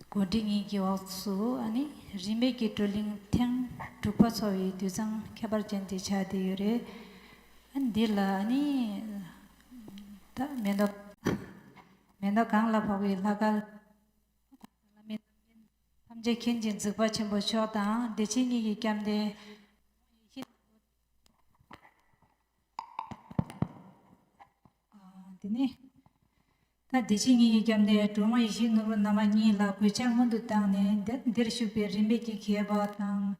དགོན་སྡེ་གཉིས་ཀྱི་འོག་ཏུ་ནི་རིས་མེད་ཀྱི་བགྲོ་གླེང་ཐེངས་དྲུག་པ་འཚོགས་པའི་དུད་ཚང་ཁྱད་པར་ཅན་དེ་ཆགས་བསྡད་ཡོད་རེད། འདི་ལ་ནི་ད་མེ་མདའ། མེ་མདའ་གངས་ལ་ཕོག་པའི་ལྷ་སྐལ། བླ་མེད་རྣམ་རྒྱལ་ཐམས་ཅད་མཁྱེན་ཅིང་གཟིགས་པ་ཆེན་པོ་མཆོག་དང་བདེ་ཆེན་གཉིས་ཀྱི་སྐྱབས་མདའི་ཡེ་ཤེས་ནག་པོ། དེ་ནས། ད་བདེ་ཆེན་ཉིད་ཀྱི་སྐྱབས་འདིར་གྲོང་མ་ཡེ་ཤེས་ནོར་བུ་ནར་མ་གཉིས་ལ་གོས་ཆ་སྔོན་དུ་བཏང་ནས་འདི་འདིར་བཞུགས་པའི་རིམ་པས་ཀྱི་མཁས་པ་དང།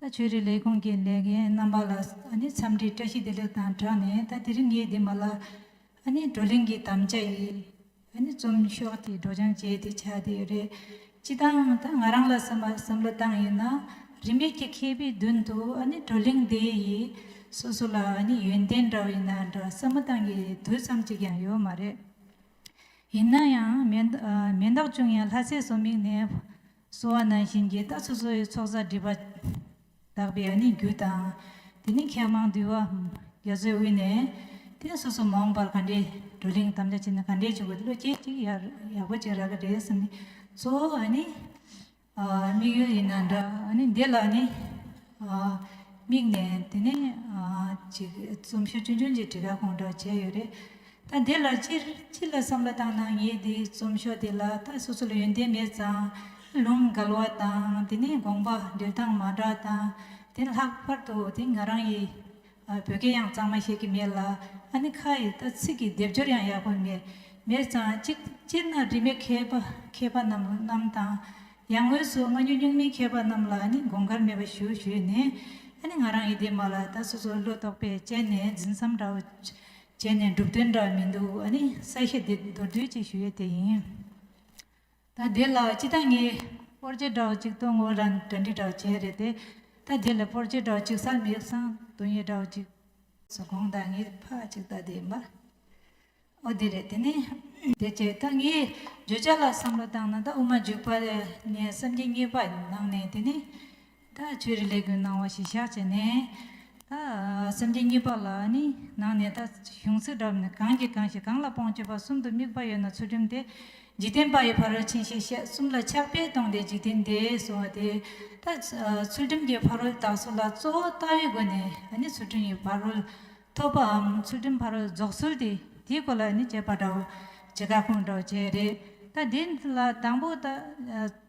ད་ཆོས་རིག་ལས་ཁུངས་ཀྱི་ལས་འགན་རྣམ་པ་ལ་ཨ་ནི་འཚམས་འདྲིའི་བཀྲ་ཤིས་བདེ་ལེགས་དང་སྦྲགས་ནས་ད་དེ་རིང་ངའི་འདི་མ་ལ་ཨ་ནི་བགྲོ་གླེང་གི་དམ་བཅའ་ཡིས་ཨ་ནི་རྩོམ་ཤོག་དེ་སྒྲོག་སྦྱང་བྱས་ཏེ་ཆགས་བསྡད་ཡོད་རེད། སྤྱི་དང། ད་ང་རང་ལ་སེམས་པ་སེམས་ལ་བཏང་ཡོད་ན། རིས་མེད་ཀྱི་མཁས་པའི་མདུན་དུ་བགྲོ་གླེང་འདི་ཡིས། སོ་སོ་ལ་ཡོན་ཏན་འདྲ་བ་ཡིན་ན་འདྲ་སེམས་མི་བཏང་གི་དུས་ཙམ་གཅིག་ཀྱང་ཡོད་མ་རེད། ཡིན་ན་ཡང་མེ་མདག་ཅུང་ཡང་ལྷ་སའི་སོ་མིག་ནས་སོ་བ་ནང་བཞིན་གྱི་ད་སོ་སོ་ཡི་ཚོགས་བསགས་སྒྲིབ་པ། དག་པའི་ཨ་ནི་རྒྱུ་དང། དེ་ནི་མཁས་མང་འདུལ་བ། རྒྱ་མཚོའི་དབུས་ནས། དེ་སོ་སོ་མ་འོངས་པར་ག་འདྲའི། བགྲོ་གླེང་དམ་བཅའ་བྱས་ན་ག་འདྲའི་བྱུང་བའི་བློ་སྐྱེད་ཅིག་ཡག་པོ་ཅིག་རག་གི་རེད་བསམ་ནས། གཙོ་བོ་ཨ་ནི། དམིགས་ཡུལ་ཡིན་ན་འདྲ། ཨ་ནི་འདི་ལ་ཨ་ནི། དམིགས་ནས་དེ་ནས། ཅིག་རྩོམ་ཤུགས་ཆུང་ཆུང་ཅིག་བྲིས་ཁ་སྐོང་འདྲ་བྱས་ཡོད་རེད། ད་འདི་ལ་སྤྱིར་ཅི་ལ་བསམ་བློ་བཏང་ན་ངས་འདི་རྩོམ་ཤོག་འདི་ལ་ད་སོ་སོ་ལ་ཡོན་ཏན་མེད་ཙང་ལུང་འགལ་བ་དང་དེ་ནས་དགོངས་པ་འདུལ་སྟངས་མ་འདྲ་དང་དེ་ལྷག་པར་དུ་དེ་ང་རང་ཡི་བོད་སྐད་ཡང་གཙང་མ་ཤེས་ཀྱི་མེད་ལ་ཨ་ནེ་ཁ་ཡི་ད་ཚིག་གི་སྡེབ་སྦྱོར་ཡང་ཡག་པོ་མེད་མེད་ཙང་ཅིག་སྤྱིར་ན་རིས་མེད་མཁས་པ་མཁས་པ་རྣམས་དང་ཡང་དངོས་སུ་སྔ་འགྱུར་སྙུག་མིན་མཁས་པ་རྣམས་ལ་ནི་དགོངས་ཁར་མེད་པ་ཞུ་ཞུས་ནས་ཨ་ནེ་ང་རང་ཡི་འདི་མ་ལ་ད་སོ་སོ་བློ་དོགས་པས་དཔྱད་ནས་འཛིན་བསམ་འདྲ་བོ་བྱས་ནས་སྒྲུབ་དོན་འདྲ་མི་འདུག་ཨ་ནི་ས་གཞི་འདི་མདོར་བསྡུས་ཅིག་ཞུ་ཡས་དེ་ཡིན། ད་དེ་ལ་ཅི་ད་ངས་པོར་རྗེ་བྲག་གཅིག་སྟོང་ངོ་ར་འདྲ་འདྲི་བྲག་བྱས་རེད་དེ་ད་དེ་ལ་པོར་རྗེ་བྲག་གཅིག་ས་མིག་སང་དུ་ཡས་བྲག་གཅིག། སུ་གོང་ད་ངས་ཕ་གཅིག་ད་དེ་མ་ཨོ་དེ་རེད་དེ་ནི། དེ་བྱས་ད་ངས་བརྗོད་བྱ་ལ་བསམ་བློ་བཏང་ན་ད་དབུ་མ་འཇུག་པ་ནས་བསམ་གྱི་རྙེད་པ་ནང་ནས་དེ་ནི། ད་ཆོས་རིག་ལས་ཀུན་སྣང་བ་ཞིག་བཞག་བྱས་ནས། ད་སེམས་ཅན་གཉིས་པ་ལ་ནི་ནང་ནས་ད་གཞུང་ཚིག་འདྲ་བ་ནི་གང་གིས་གང་ཞིག་གང་ལ་སྤོང་སྤྱོད་པ་གསུམ་དུ་དམིགས་པ་ཡོད་ན་ཚུལ་ཁྲིམས་དེ་འཇིག་རྟེན་པ་ཡི་ཕ་རོལ་ཕྱིན་ཞེས་བཤད་གསུམ་ལ་ཕྱག་དཔེ་སྟོང་སྟེ་འཇིག་རྟེན་འདས་གསུང་བ་དེ། ད་ཚུལ་ཁྲིམས་ཀྱི་ཕ་རོལ་དག་གསུམ་ལ་གཙོ་བོ་ལྟ་བའི་སྒོ་ནས་ནི་ཚུལ་ཁྲིམས་ཡི་ཕ་རོལ་ཐོབ་པའམ་ཚུལ་ཁྲིམས་ཕ་རོལ་རྫོགས་ཚུལ་དེ་དེའི་སྐོར་ལ་ནི་དཔྱད་པ་འདྲ་བོ་བྱེད་ཁ་སྐོང་འདྲ་བོ་བྱས་རེད། ད་དེ་ལ་དང་པོ་ད།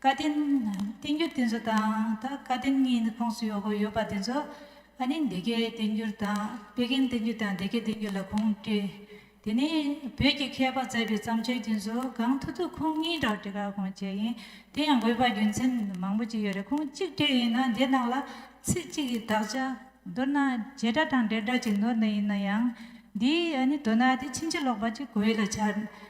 བཀའ་བསྟན། བསྟན་འགྱུར་དེ་ཚོ་དང་ད་བཀའ་བསྟན་གཉིས་ནི་ཁོངས་སུ་ཡོད་དགོས་ཡོད་པ་དེ་ཚོ་ཨ་ནི་འདི་གའི་བསྟན་འགྱུར་དང་དཔེ་རྒན་བསྟན་འགྱུར་དང་འདི་གའི་བསྟན་འགྱུར་ལ་ཁུངས་བསྐྱེལ། དེ་ནས་བོད་ཀྱི་མཁས་པ་མཛད་པའི་བརྩམས་ཆོས་དེ་ཚོ་གང་ཐུག་ཐུག་ཁུངས་གཉིས་དག་བྲི་ག་གོང་བྱས་ཡིན་དེ་ཡང་དགོས་པ་རྒྱུ་མཚན་མང་པོ་ཅིག་ཡོད་རེད་ཁུངས་གཅིག་བྲིས་ཡིན་ན་འདི་ནང་ལ་ཚིག་གཅིག་གི་དག་ཆ་མདོར་ན་བྱེ་བྲག་དང་འབྲེལ་སྒྲ་གཅིག་ནོར་ན་ཡིན་ན་ཡང་འདིའི་ཨ་ནི་དོ་ན་དེ་ཕྱིན་ཅི་ལོག་པ་ཅིག་གོ་ཡུལ་ལ་འཆར།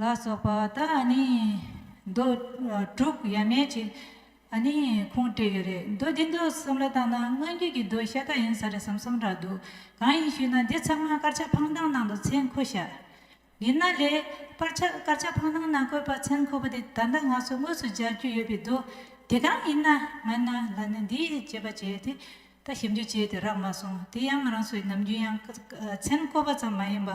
ལ་སོགས་པ་དང་ནི། མདོ་དྲུག་ཡ་མེད་ཅིག་ནི་ཁུངས་བྲིས་ཡོད་རེད། མདོ་འདི་མདོ་གསུམ་ལ་བཏང་ན་སྔོན་རྒྱུད་ཀྱི་མདོའི་ཤ་སྟག་ཡིན་ས་རེད་བསམ་བསམ་འདྲ་འདུག་གང་ཡིན་ཞུས་ན་འདི་ཚང་མ་དཀར་ཆག་འཕང་ཐང་ནང་དུ་མཚན་བཀོད་ཤག་ཡིན་ན་ལེ། དཀར་ཆག་དཀར་ཆག་འཕང་ཐང་ནང་བཀོད་པ་མཚན་བཀོད་པ་དེ་ད་ལྟ་ང་ཚོ་དངོས་སུ་སྦྱར་རྒྱུ་ཡོད་པའི་མདོ་དེ་གང་ཡིན་ན་ང་ན་ལ་ནི་འདི་བྱས་པ་བྱས་ཏེ་ད་ཞིབ་འཇུག་བྱས་ཏེ་རག་མ་སོང་དེ་ཡང་རང་སོའི་ནམ་རྒྱུན་ཡང་མཚན་བཀོད་པ་ཙམ་མ་ཡིན་པ།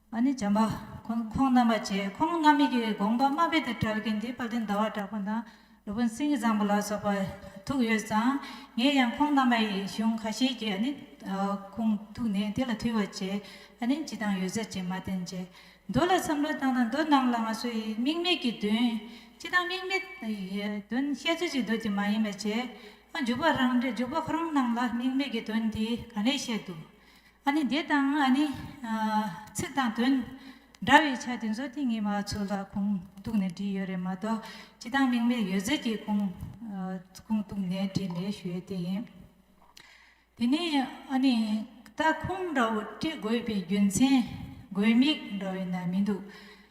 ཨ་ནི་བྱམས་པ། ཁོང་རྣམ་པར་བྱས། ཁོང་རྣམ་སྨིན་གྱི་དགོངས་པ་སྨྲ་བས་དེ་བྲལ་གྱི་འདི་བར་དོའི་ཟླ་བ་གྲགས་པ་དང་རི་བོ་མཚན་གྱི་བཟང་པོ་ལ་སོགས་པ་ཐུག་ཡོད་ཙང་ངས་ཡང་ཁོང་རྣམ་པ་ཡི་གཞུང་ཁ་ཤས་ཀྱིས་ཨ་ནི་ཁོང་ཐུག་ནས་དེ་ལ་ཐུལ་བར་བྱས་ཨ་ནི་ཇི་ལྟང་ཡོད་ཟེར་ཅེས་མ་བསྟན་རྗེས་མདོ་ལ་བསམ་བློ་བཏང་ན་མདོ་རྣམས་ལ་ང་ཚོ་ཡི་དམིགས་མེད་ཀྱི་དོན་སྤྱི་དང་དམིགས་མེད་ཡི་དོན་བཤད་ཚུལ་གཅིག་འདོད་ཀྱི་མ་ཡིན་པ་བྱས་ཨ་འཇུག་པ་རང་འཇུག་པ་ཁོ་རང་རྣམས་ལ་དམིགས་མེད་ཀྱི་དོན་འདི་ག་ནས་བཤད་དུ། ཨ་ནི་དེ་དང་ཨ་ནི། ཚིག་དང་དོན། འདྲ་བའི་ཆ་དེ་ཚོ་དེ་ངས་མ་ཚོ་ལ་ཁུངས་གཏུགས་ནས་བྲིས་ཡོད་རེད་མ་གཏོགས་ཅི་དང་མིང་མེད་ཡོད་ཟེར་གྱི་ཁུངས་གཏུགས་ནས་བྲིས་མེད་ཞུ་ཡོད་དེ་ཡིན། དེ་ནས་ཨ་ནི། ད་ཁུངས་འདྲ་བོ་བྲི་དགོས་པའི་རྒྱུ་མཚན་དགོས་དམིགས་འདྲ་བོ་ན་མི་འདུག།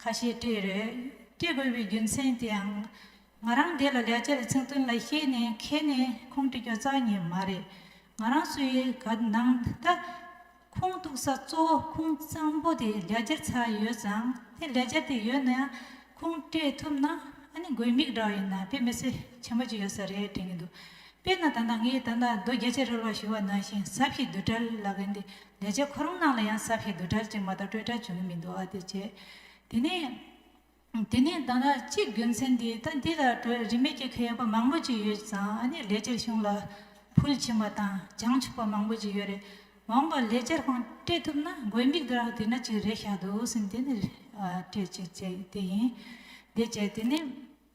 ཁ་ཤས་སྤྲད་རེས་སྤྲད་དགོས་པའི་རྒྱུ་མཚན་དེའང། ང་རང་དེ་ལ་ལས་བྱེད་ཚིག་དོན་ལ་ཤེས་ནས་མཁས་ནས་ཁུངས་འདྲི་རྒྱུ་རྩ་ཉེ་མ་རེད། ང་རང་སུ་ཡིན་ག་ནང་ད་ཁུངས་གཏུགས་ས་གཙོ་བོ་ཁུངས་གཙང་པོ་དེ་ལས་བྱེད་ཚ་ཡོད་ཙང་དེ་ལས་བྱེད་དེ་ཡོད་ན་ཡང་ཁུངས་སྤྲད་ཐུབ་ན་ཨ་ནི་དགོས་དམིགས་འདྲ་བ་ཡིན་ན་དཔེ་མི་ཚེ་ཆེན་པོ་ཅིག་ཡོད་ས་རེད་དྲན་གྱི་འདུག་དཔེར་ན་ད་ལྟ་ངས་ད་ལྟ་རྡོ་བརྒྱ་ཆ་རེ་ལོག་ཞུ་བ་ནང་བཞིན་གཟབ་ཞིག་བསྡུ་གྲལ་ལག་གི་འདི་ལས་ཆེ་ཁོ་རང་ནང་ལ་ཡང་གཟབ་ཞིག་བསྡུ་གྲལ་ཅིག་མ་གཏོགས་སྤྲོད་གྲལ་བྱུང་གི་མི་འདུག་ཨ་དེ་བྱས། དེ་ནས། དེ་ནས་ད་ལྟ་གཅིག་རྒྱུ་མཚན་འདི་ད་འདི་ལ་དྲོད་རིན་མེད་སྐྱེ་མཁན་ཡོད་པ་མང་པོ་ཅིག་ཡོད་ཙང་ཨ་ནི་ལས་བྱེད་གཞུང་ལ་ཕུལ་ཕྱིན་པ་དང་བྱང་ཆུབ་པ་མང་པོ་ཅིག་ཡོད་རེད་འོང་བ་ལས་སྤྱིར་བཏང་སྤྲད་ཐུབ་ན་དགོས་དམིགས་དེ་རང་དེ་ན་ཅིག་རེད་ཤག་འདུག་སེམས་དེ་ནི་སྤྲད་ཅིག་བྱས་དེ་ཡིན། དེ་བྱས་དེ་ནས།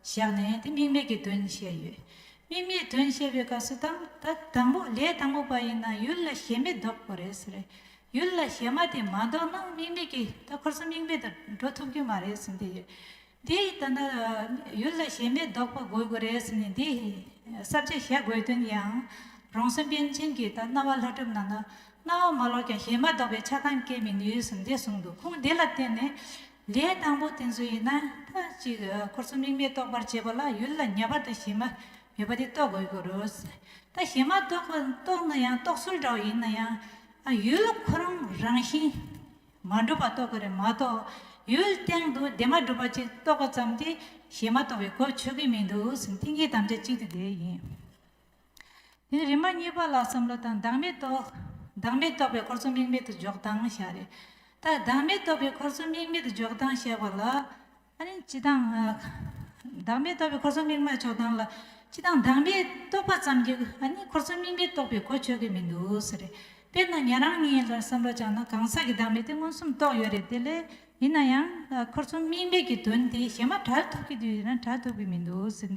བཞག་ནས་དེ་དམིགས་མེད་ཀྱི་དོན་བཤད་ཡོད། དམིགས་མེད་དོན་བཤད་པའི་སྐབས་སུ་དང་ད་དང་པོ་ལས་དང་པོ་པ་ཡིན་ན་ཡུལ་ལ་ཞེན་མེད་ལྡོག་དགོས་རེད་ཟེར། ཡུལ་ལ་ཞེན་མ་དེ་མ་ལྡོག་ན་དམིགས་མེད་ཀྱི་ད་འཁོར་སོང་དམིགས་མེད་དུ་འགྲོ་ཐུབ་ཀྱི་མ་རེད་ཟེར་འདི་ཡོད། འདི་ད་ནི་ཡུལ་ལ་ཞེན་མེད་ལྡོག་པ་དགོས་དགོས་རེད་ཟེར་ནས་འདི་གསར་བརྗེ་བྱ་དགོས་དོན་ཡང། རང་སེམས་པཎ་ཆེན་གྱིས་ད་རྣ་བ་ལྷ་སྒྲུབ་གནང་ན་རྣ་བ་མ་ལོག་ཀྱང་ཞེན་མ་ལྡོག་པའི་ཆགས་སྡང་སྐྱེ་མི་ནུས་ཟེར་འདི་གསུངས་འདུག་ཁོང་འདི་ལ་བརྟེན་ནས། ལས་དང་པོ་དེ་ཚོ་ཡིན་ན་ཐ་ཅིག་འཁོར་གསུམ་རིག་མེད་རྟོགས་པར་བྱེད་པ་ལ་ཡུལ་ལ་ཉེ་བར་དུ་གཞི་མ་ཡོད་པ་དེ་རྟོགས་དགོས་ཀྱི་རུ། ད་གཞི་མ་རྟོགས་ན་ཡང་རྟོགས་ཚུལ་འདྲ་བོ་ཡིན་ན་ཡང། ཡུལ་འཁོར་རང་རང་བཞིན་མ་གྲུབ་པ་རྟོགས་དགོས་རེད་མ་གཏོགས་ཡུལ་སྟེང་དུ་དེ་མ་གྲུབ་པ་ཅིག་རྟོགས་པ་ཙམ་གྱིས་གཞི་མ་རྟོགས་པའི་གོ་ཆོད་ཀྱི་མི་འདུག་མཐིང་གའི་དམ་བཅའ་གཅིག་དེ་དེ་ཡིན། དེ་རིམ་པ་གཉིས་པ་ལ་བསམ་བློ་དང་བདག་མེད་རྟོགས། བདག་མེད་རྟོགས་པའི་འཁོར་ཚོགས་དམིགས་མེད་དུ་འཇོག་སྟངས་བྱ། རེ་ད་བདག་མེད་རྟོགས་པའི་འཁོར་ཚོགས་དམིགས་མེད་དུ་འཇོག་སྟངས་བྱ་བ་ལ། ཅི་དང། བདག་མེད་རྟོགས་པའི་འཁོར་ཚོགས་དམིགས་མེད་འཇོག་སྟངས་ལ། ཅི་དང་བདག་མེད་རྟོགས་པ་ཙམ་གྱི་འཁོར་ཚོགས་དམིགས་མེད་རྟོགས་པའི་གོ་ཆོད་ཀྱི་མི་འདུག་ཟེར། རེད། དཔེར་ན་ཉན་རང་གཉིས་ལ་བསམ་བློ་བཅངས་ན་གང་ཟག་གི་བདག་མེད་དེ་མངོན་སུམ་རྟོགས་ཡོད་རེད་དེ་ལས། ཡིན་ན་ཡང། འཁོར་ཚོགས་དམིགས་མེད་ཀྱི་དོན་དེ་གཞན་མ་གྲགས་ཐུབ་ཀྱི་དུས་ཡིན་ན་གྲགས་ཐུབ་ཀྱི་མི་འདུག་ཟེར།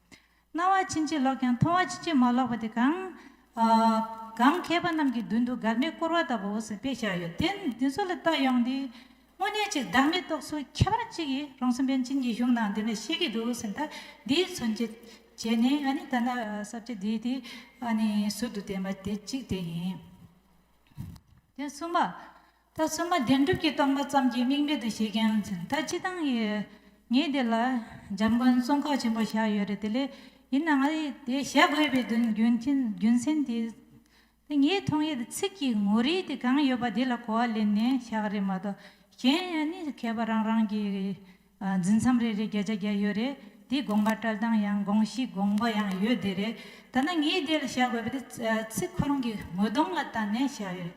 སྣང་བ་ཕྱིན་ཅི་ལོག་ཀྱང་མཐོང་བ་ཕྱིན་ཅི་མ་ལོག་པ་དེ་གང། གང། མཁས་པ་རྣམས་ཀྱི་མདུན་དུ་མགར་མའི་བསྐོར་བ་ལྟ་བུ་འོག་སུ་དཔེ་བཞག་ཡོད་དེ། འདི་ཚོ་ལ་བལྟ་ཡོང་དེ། དངོས་གནས་ཅིག་བདག་མེད་རྟོགས་སུ་ཁྱད་པར་ཅི་ཡི་རང་སེམས་པན་ཆེན་གྱི་གཞུང་ནང་འདི་འདྲ་ཤེས་ཀྱི་འདུག་ཟེར་ད། འདིའི་མཚོན་བྱེད། བྱས་ནས་ཨ་ནི་ད་ནི་གསར་བརྗེ་འདིའི་དེ། ཨ་ནི་ཟུར་དུ་བསྟན་པ་དེ་གཅིག་དེ་ཡིན། དེ་གསུམ་པ། ད་བསོད་མ་བདེན་གྲུབ་ཀྱིས་སྟོང་པ་ཙམ་གྱི་དམིགས་མེད་དུ་བྱེད་མཁན་ཡང་མཚོན་ད་ཅི་སྟངས་ཡིན། ངས་དེ་ལ་འཇམ་མགོན་གསུང་ཁག་ཆེན་པོ་བཞག་ཡོད་རེད་དེ་ལས་ཡིན་ན་ང་ཡིས་དེ་བྱ་དགོས་པའི་དོན་རྒྱུ་མཚན་དེ། དེ་ངའི་མཐོང་ཡུལ་དུ་ཚིག་གི་ངོ་རིས་དེ་གང་ཡོད་པ་དེ་ལ་གོ་བ་ལེན་ནས་བཞག་རེད་མ་གཏོགས་གཞན་ཡང་ནི་མཁས་པ་རང་རང་གིས་འཛིན་མཚམས་རེ་རེ་བརྒྱ་ཆ་བརྒྱ་ཡོད་རེད་དེ་དགོངས་པ་བཀྲལ་སྟངས་ཡང་དགོངས་གཞི་དགོངས་པ་ཡང་ཡོད་དེ་རེད་ད་ནི་ངས་འདི་ལ་བཤད་དགོས་པ་དེ་ཚིག་ཁོ་རང་གི་ངོ་གདོང་ལ་བལྟ་ནས་བཤད་ཡོད་རེད།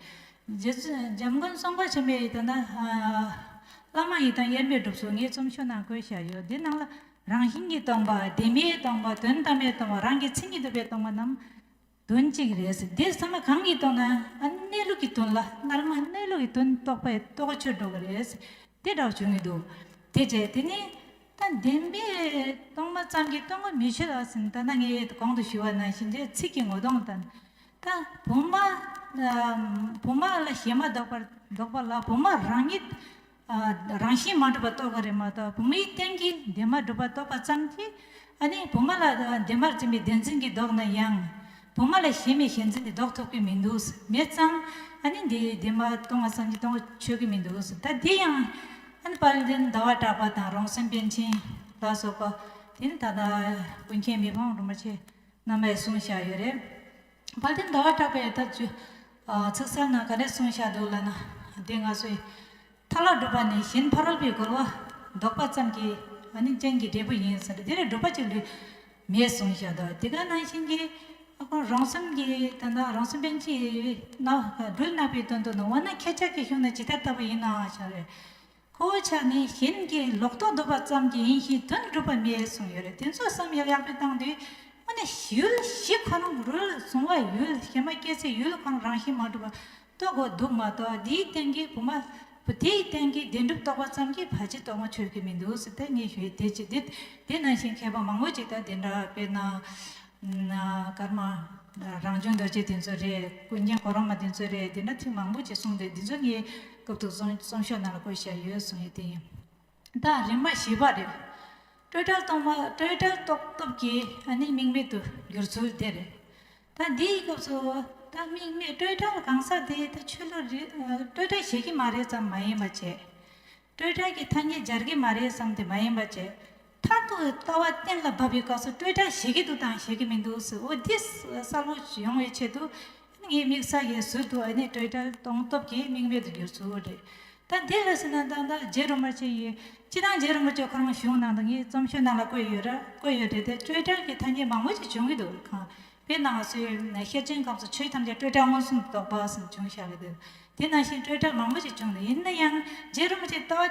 རྗེ་བཙུན་འཇམ་མགོན་གསུང་འབུམ་ཆེན་པོའི་ཡི་དམ་དང། བླ་མ་ཡི་དམ་དབྱེར་མེད་སྒྲུབ་སོགས་ངས་རྩོམ་ཤོག་ནང་བཀོད་བཞག་ཡོད་དེ་ནང་ལ་རང་བཞིན་གྱི་སྟོང་པ་བདེན་པའི་སྟོང་པ་དོན་དམ་པའི་སྟོང་པ་རང་གི་མཚན་ཉིད་དུ་བའི་སྟོང་པ་རྣམས། དོན་གཅིག་རེད། དེ་ཚང་མ་གང་གིས་རྟོགས་ན་གནས་ལུགས་ཀྱི་དོན་ལ་སྔར་མ་གནས་ལུགས་ཀྱི་དོན་རྟོགས་པས་རྟོགས་ཆོད་འགྲོ་བ་རེད། དེ་འདྲ་བྱུང་མི་འདུག་དེ་རྗེས་དེ་ནི་ད་བདེན་པས་སྟོང་མ་ཙམ་གྱིས་སྟོང་པ་མི་ཤེས་ལགས་ཟིན་ད་ནངས་ཡས་གོང་དུ་ཞུ་བ་ན་གཞི་འབྲས་ཚིག་གི་ངོ་གདོང་དང། ད་བུ་མ་བུ་མ་ལ་ཞེ་མ་བདོག་པར་བདོག་པ་ལ་བུ་མ་རང་ཉིད་རང་བཞིན་མ་གྲུབ་པ་རྟོགས་པ་རེད་མ་གཏོགས་བུ་མོའི་སྟེང་གི་འདས་མ་གྲུབ་པ་རྟོགས་པ་ཙམ་གྱིས་ཨ་ནི་བུ་མོ་ལ་འདས་མར་འཛིན་པའི་བདེན་འཛིན་གྱིས་བཟློག་ན་ཡང། བུ་མོ་ལ་གཞན་མེད་ཞེན་འཛིན་གྱིས་བཟློག་ཐུབ་ཀྱི་མི་འདུག་མེད་ཙང་ཨ་ནི་འདས་འདས་མ་གཏོང་བ་ཙམ་གྱིས་གཏོང་ཆོག་གི་མི་འདུག་ད་དེ་ཡང་ཨ་ནི་པར་ལེན་ཟླ་བ་གྲགས་པ་དང་རང་སེམས་པཎ་ཆེན་ལ་སོགས་པ་དེ་ནི་ད་ལྟ་ཀུན་མཁྱེན་མི་ཕམ་རིན་པོ་ཆེ་རྣམ་པས་གསུངས་བཞག་ཡོད་རེད། དཔལ་ལྡན་ཟླ་བ་གྲགས་པའི་ཐབས་བྱུས། ཚིག་གསལ་ངང་ག་རེ་གསུངས་བྱ་འདོད་ལགས་ན། དེ་སྔ་སོས། མཐའ་ལ་སྒྲུབ་པ་ནི་གཞན་ཕ་རོལ་པོའི་རྒོལ་བ་བཟློག་པ་ཙམ་གྱི། ཨ་ནི་རྐྱེན་གྱི་འབྲས་བུ་ཡིན་ཟེར། དེ་ལས་སྒྲུབ་པ་གཅིག་ལུས་མེད་གསུངས་བྱ་འདོད། དེ་ག་ནང་བཞིན་གྱི། རང་སེམས་ཀྱི་ད་ལྟ་རང་སེམས་པན་ཆེའི། སྒྲོས་བརྣག་པའི་དོན་དུ་ནང་བ་ན་ཁྱེད་ཅག་གི་གཞུང་ནི་ཇི་ལྟར་ལྟ་བུ་ཡིན་ནའང་བྱ་བའི། ཁོ་བོའི་ཆ་ནས་གཞན་གྱི་ལོག་རྟོག་བཟློག་པ་ཙམ་གྱིས་ཡིན་ཞིང་དོན་འགྲུབ་པ་མེད་གསུངས་ཡོད་རེད་དེ་ཚོ་བསམ་ཡག་ཡག་པོ་བཏང་དུས་དངོས་གནས་ཡུལ་གཞི་ཁོ་རང་རུལ་སོང་བ་ཡུལ་གཞི་མ་སྐྱེས་ཚེ་ཡུལ་ཁོ་རང་རང་བཞིན་མ་འགྲུབ་པ་རྟོགས་དགོས་འདུག་མ་གཏོགས་དེའི་སྟེང་གི་བུ་མ་བུ་དེའི་སྟེང་གི་བདེན་གྲུབ་རྟོགས་པ་ཙམ་གྱིས་བར་ཆད་རྟོགས་མ་ཆོད་ཀྱི་མི་འདུག་སི་ཐན་ཉི་ཞོའི་དེ་ཅི་དེ་དེ་ནང་བཞིན་མཁས་པ་མང་བོ་ཅིག་དང་དེ་འདྲ་དཔེར་ན། ཀརྨ། རང་བྱུང་རྡོ་རྗེ་དེ་ཚོ་རེད། ཀུན་མཁྱེན་གོ་རོ་མ་དེ་ཚོ་རེད་འདི་འདྲ་ཐེངས་མང་པོ་ཅིག་གསུངས་ཏེ་འདི་ཚོ་ངའི་སྐབས་ཐུག་སོང་གསུང་ཤོག་ནང་ལ་བཀོད་བཞག་ཡོད་གསུངས་ཡོད་དེ་ཡིན། ད་རིམ་མ་བཞི་པ་རེད། སྤྲོས་བྲལ་རྟོགས་མ་སྤྲོས་བྲལ་རྟོགས་སྟོབས་ཀྱིས་ཨ་ནི་དམིགས་མེད་དུ་འགྱུར་ཚུལ་དེ་རེད། ད་འདིའི་སྐབས་སུ་ད་དམིགས་མེད་སྤྲོས་བྲལ་གང་ཟག་དེ་ད་ཆོས་ལུགས་རེད་སྤྲོས་བྲལ་བྱེད་ཀྱི་མ་རེད་བསམ་མ་ཡིན་པ་བྱེད། སྤྲོས་བྲལ་གྱི་ཐ་སྙད་སྦྱར་གྱི་མ་རེད་བསམ་དེ་མ་ཡིན་པ་བྱེད། མཐར་ཐུག་ལྟ་བ་གཏན་ལ་དབབ་པའི་སྐབས་སུ་སྤྲོས་བྲལ་བྱེད་ཀྱི་འདུག་དང་བྱེད་ཀྱི་མི་འདུག་ཟེར་འོ་འདི་གསར་བུ་ཡོང་བའི་ཆེད་དུ་ངའི་དམིགས་བསལ་གྱི་ཟུར་དུ་ཨ་ནི་སྤྲོས་བྲལ་སྟོང་སྟོབས་ཀྱི་དམིགས་མེད་དུ་གྱུར་ཚུལ་རེད། ད་འདི་འོས་ཟེར་ན་ད་ལྟ་རྗེ་རིན་པོ་ཆེ་ཡིས་སྤྱི་དང་རྗེ་རིན་པོ་ཆེ་ཁོ་རང་གཞུང་ནང་དུ་ངའི་རྩོམ་ཆོས་ནང་ལ་བཀོད་ཡོད་ར་བཀོད་ཡོད་རེད་དེ་སྤྲོས་བྲལ་གྱི་ཐ་སྙད་མང་པོ་ཞིག་བྱུང་གི་འདུག་གང་བོས་ནང་བ་སུའི་ཤེར་ཕྱིན་སྐབས་སུ་ཆོས་ཐམས་ཅད་སྤྲོས་བྲལ་མངོན་སུམ་དུ་རྟོགས་པ་ཟིན་བྱུང་བཞག་གི་འདུག་དེ་ནང་བཞིན་སྤྲོས་བྲལ་མང་པོ་ཞིག་བྱུང་འདུག་ཡིན་ན་ཡང་རྗེ་རིན་པོ་ཆེས་ལྟ་བ།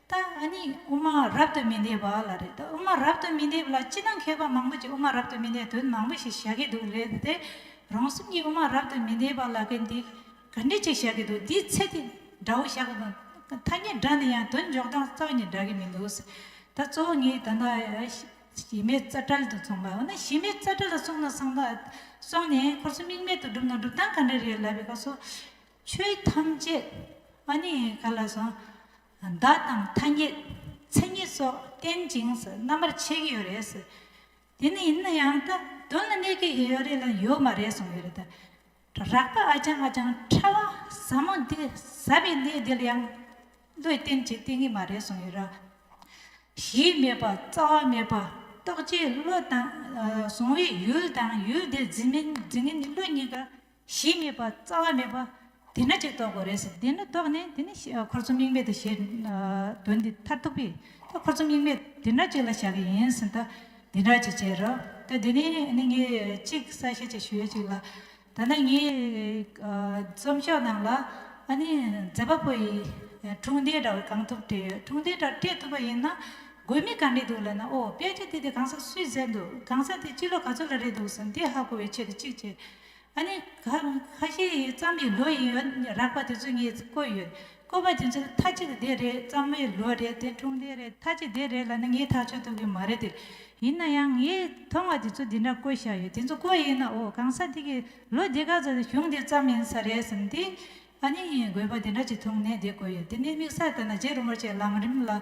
ད་ཨ་ནི་དབུ་མ་རབ་ཏུ་མི་འདེབས་པ་ལ་རེད་ད་དབུ་མ་རབ་ཏུ་མི་འདེབས་ལ་སྤྱི་དང་མཁས་པ་མང་པོ་ཅིག་དབུ་མ་རབ་ཏུ་མི་འདེབས་དོན་མང་པོ་ཞིག་བྱ་གི་འདུག་རེད་དེ། རང་སེམས་ཀྱིས་དབུ་མ་རབ་ཏུ་མི་འདེབས་པ་ལ་གི་འདི་ག་འདྲི་གཅིག་བྱ་གི་འདུག་འདིའི་ཚེ་འདི་འདྲ་བོ་བྱ་གི་འདུག་ཐ་སྙད་སྒྲ་འདི་ཡང་དོན་འཇོག་སྟངས་རྩ་བ་ནས་འདྲ་གི་མི་འདུག་ཟེར། ད་གཙོ་བོ་ངས་ད་ཞི་མེད་རྩ་བྲལ་དུ་གསུངས་པ་འོ་ན་ཞི་མེད་རྩ་བྲལ་ལ་གསུངས་ན་གསང་བདག་སོང་ནས་འཁོར་གསུམ་དམིགས་མེད་དུ་བསྒྲུབས་ན་སྒྲུབ་སྟངས་ག་འདྲ་རེད་ལབ་པའི་སྐབས་སུ། ཆོས་ཐམས་ཅད་ཨ་ནི་ག་ལ་སོང། བརྡ་དང་ཐ་སྙད། མཚན་ཉིད་སོགས་བསྟན་ཅིང་རྣམ་པར་ཕྱེ་གི་ཡོད་རེད། དེ་ནི་ཡིན་ན་ཡང་ད་དོན་ལ་གནས་ཀྱི་ཡོད་རེད་ལ་ཡོད་མ་རེད་གསུངས་ཡོད་རེད། རགས་པ་ཨ་ཅང་ཨ་ཅང་ཕྲ་བ་ཟབ་མོ་འདི་ཟབ་པའི་གནས་འདི་ལ་ཡང་བློས་བསྟན་བྱེད་བསྟན་གི་མ་རེད་གསུངས་ཡོད་ར། གཞི་མེད་པ་རྩ་བ་མེད་པ་རྟོགས་བྱའི་བློ་དང། བཟུང་བའི་ཡུལ་དང་ཡུལ་དེ་འཛིན་མིན་འཛིན་མིན་གྱི་བློ་གཉིས་ཀ་གཞི་མེད་པ་རྩ་བ་མེད་པ། དེས་ན་ཅིག་རྟོགས་དགོས་རེད་ཟེར་དེས་ན་རྟོགས་ནས་དེ་ནི་འཁོར་ཚོམ་དམིགས་མེད་དུ་ཞེས་དོན་འདི་མཐར་ཐུག་པས་ད་འཁོར་ཚོམ་དམིགས་མེད་དེ་འདྲ་ཅིག་ལ་བཞག་གི་ཡིན་ཟེར་ད་དེ་འདྲ་ཅིག་བྱེད་རོགས་ད་དེ་ནས་ནི་ངས་ཅིག་གསལ་བཤད་ཅིག་ཞུས་ཅིག་ལ། ད་ནི་ངའི་རྩོམ་ཤོག་ནང་ལ་ཨ་ནི་མཛད་པ་པོ་ཡིས་འཁྲུངས་འདས་འདྲ་བ་གང་ཐུབ་བྲིས་ཡོད་འཁྲུངས་འདས་འདྲ་བྲིས་ཐུབ་པ་ཡིན་ན་དགོས་མིན་གང་རེད་འདུག་ལབ་ན་ཨོ་དཔེ་ཆ་དེ་དེ་གང་ས་སུས་མཛད་འདུག་གང་ས་དེ་སྤྱི་ལོ་ག་ཚོད་ལ་རེད་འདུག་ཟེར་ན་དེ་ཧ་གོ་བའི་ཆེད་དུ་ཅིག་བྱེད། ཨ་ནི། ཁ་ཤས་ཡིས་གཙང་མའི་ལོ་ཡིན་ཡོད་རག་པ་དེ་ཚོ་ངས་བཀོད་ཡོད། བཀོད་པ་དེ་ཚོ་མཐའ་གཅིག་དེ་རེད་གཙང་མའི་ལོ་རེད་དེ་ཁྲུམས་ལྡན་རེད་མཐའ་གཅིག་དེ་རེད་ལ་ནི་ངས་ཐག་ཆོད་ཐུབ་ཀྱི་མ་རེད་དེ། ཡིན་ན་ཡང་ངས་མཐོང་བ་དེ་ཚོ་འདི་འདྲ་བཀོད་བཞག་ཡོད་དེ་ཚོ་བཀོད་ཡིན་ན་ཨོ་གང་ས་དེ་གི་ལོ་འདི་ག་ཚོ་དེ་གཞུང་དེ་ཙམ་ཡིན་ས་རེད་བསམ་དེ། ཨ་ནི་ངས་དགོས་པ་དེ་འདྲ་གཅིག་མཐོང་ནས་དེ་བཀོད་ཡོད་དེ་ནི་དམིགས་བསལ་ལྟར་ན་རྗེ་རིན་པོ་ཆེ་ལམ་རིམ་ལ།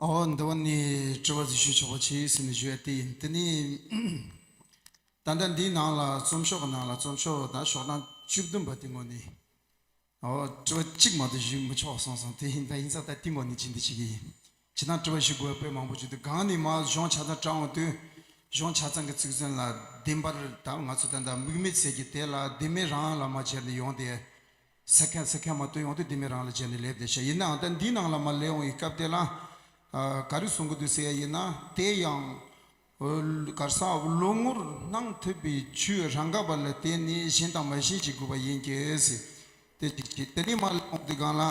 འོ་འདི་བ་ནི་དྲི་བ་ཞུ་ཆོག་པ་ཆེ་ཟེར་ནས་ཞུ་ཡ་དེ་ཡིན་དེ་ནི། ད་ལྟ་འདིའི་ནང་ལ་རྩོམ་ཤོག་གི་ནང་ལ་རྩོམ་ཤོག་ད་ཤོག་གྲངས་བཅུ་བདུན་པ་དེ་ངོ་ནས། དྲི་བ་གཅིག་མ་གཏོགས་ཞུས་མི་ཆོག་གསུངས་སོང་དེ་བཞིན་ད་ཡིན་ཙང་ད་ལྟིང་བ་ནི་ཅི་འདི་ཞིག་ཡིན། བྱེད་སྟངས་དྲི་བ་ཞུ་དགོས་པ་དཔེ་མང་པོ་བརྗོད་དུས་གང་ནས་མ་གཞོང་ཆ་ཚང་དྲངས་འོང་དུས། གཞོང་ཆ་ཚང་གི་ཚིག་མཚོན་ལ་བདེན་པར་ད་ང་ཚོ་ད་ལྟ་མིག་མེད་ཟེར་གྱི་དེ་ལ་བདེན་མེད་རང་ལ་མ་བྱེར་ནས་ཡོང་སྟེ། ཟེར་མཁན་ཟེར་མཁན་མ་གཏོགས་ཡོང་དུས་བདེན་མེད་རང་ལ་བྱེར་ནས་སླེབས་ཏེ་ཤི་ཡིན་ནའང་ད་འདིའི་ནང་ལ་མ་སླེབས་འོང་གི་སྐབས་དེ་ལ། ག་རེ་གསུང་གི་འདུག་ཟེར་ཡ་ཡིན་ན་དེ་ཡང། གར་ས་བློ་ངོར་སྣང་ཐུབ་པའི་ཆོས་རང་ག་པ་ལ་བརྟེན་ནས་ཞེན་དང་མ་ཞེན་བྱེད་དགོས་པ་ཡིན་གྱི། དེ་ཅིག་བྱས་དེ་ནས་མ་ལ་དགོངས་ཏེ་གང་ལ།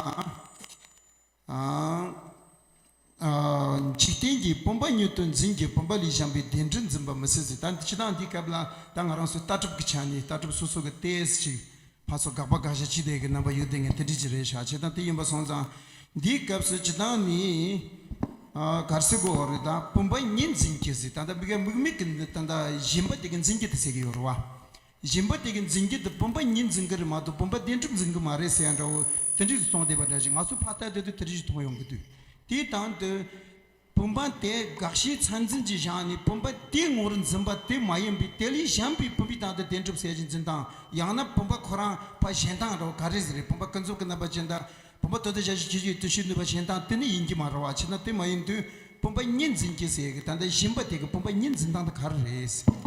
འཇིག་རྟེན་གྱི་བུམ་པ་ཉིད་དུ་འཛིན་གྱི་བུམ་པ་ལས་བྱང་བའི་བདེན་འབྲེལ་འཛིན་པ་མི་སྲིད་ཟེར་ད་འདི་ཕྱི་ནང་འདིའི་སྐབས་ལ་ད་ང་རང་སོའི་ལྟ་གྲུབ་ཀྱི་ཆ་ནས་ལྟ་གྲུབ་སོ་སོ་གི་ལྟས་ཤིག་ཕར་ཚུར་དགག་པ་དགག་བྱ་ཅི་བདེ་གི་རྣམ་པ་ཡུལ་དེ་ངས་དེ་འདྲི་ཅི་རེད་ཤག་བྱེད་དང་དེ་ཡིན་པ་སོང་ཙང་འདིའི་སྐབས་སུ་བྱེད་སྟངས་ནི། གར་གསེར་གོ་འོ་རི་དང་བུམ་པ་གཉིས་འཛིན་གྱི་ཟིག་ད་ལྟ་བི་ག་མིག་མིག་གི་འདི་ད་ལྟ་བཞིན་པ་དེ་གི་འཛིན་གྱི་འདི་ཟེར་གྱི་ཡོད་རེད་བ། བཞིན་པ་དེ་གི་འཛིན་གྱི་འདི་བུམ་པ་གཉིས་འཛིན་གི་རེད་མ་གཏོགས་བུམ་པ་བདེན་གྲུབ་འཛིན་གི་མ་རེད་ཟེར་ཡ་འདྲ་བོ་དེ་འདྲི་སུ་སོང་བསྡད་པ་འདྲ་ཞིག་ང་ཚོ་ཕ་ལྟ་དེ་དུས་དེ་འདྲི་ཞིག་མཐོང་མྱོང་གི་དུས་དེའི་དང་དུ། བུམ་པ་དེ་དགག་བྱའི་མཚན་འཛིན་གྱིས་བཞག་ནས་བུམ་པ་དེའི་ངོར་འཛིན་པ་དེ་མ་ཡིན་པའི་དེ་ལས་གཞན་པའི་བུམ་པའི་སྟེང་དུ་བདེན་གྲུབ་གསལ་བྱེད་འཛིན་སྟངས་ཡང་ན་བུམ་པ་ཁོ་རང་བ་གཞན་སྟངས་རེད་བ་ག་རེ་ཟེར་རེད་བུམ་པ་ཀུན་རྫོབ་ཀྱི་རྣམ་པ་ཅན་དང་བུམ་པ་དོན་དུ་བྱ་བྱེད་ཀྱི་ཡུལ་དུ་ཤེས་ནུས་པ་གཞན་སྟངས་དེ་ནི་ཡིན་གྱི་མ་རེད་བ་ཕྱིར་ན་དེ་མ་ཡིན་དུས་བུམ་པ་གཉིས་འཛིན་གྱི་ཟེར་གི་ད་ལྟ་བཞིན་པ་དེ་གི་བུམ་པ་གཉིས་འཛིན་སྟངས་དེ་ག་རེ་རེད།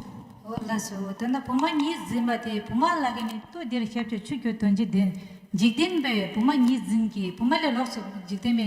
འོ་ལགས་སོ་འོ་ད་ནི་བུམ་པ་གཉིས་འཛིན་པ་དེ་བུམ་པ་ལ་གི་ནི་ལྟོས་འདིར་ཤར་ཕྱོགས་ཆུ་རྒྱུ་དོན་གྱི་འདི་འཇིག་རྟེན་པའི་བུམ་པ་གཉིས་འཛིན་གྱི་བུམ་པ་ལས་ལོགས་སུ་འཇིག་རྟེན་པའི་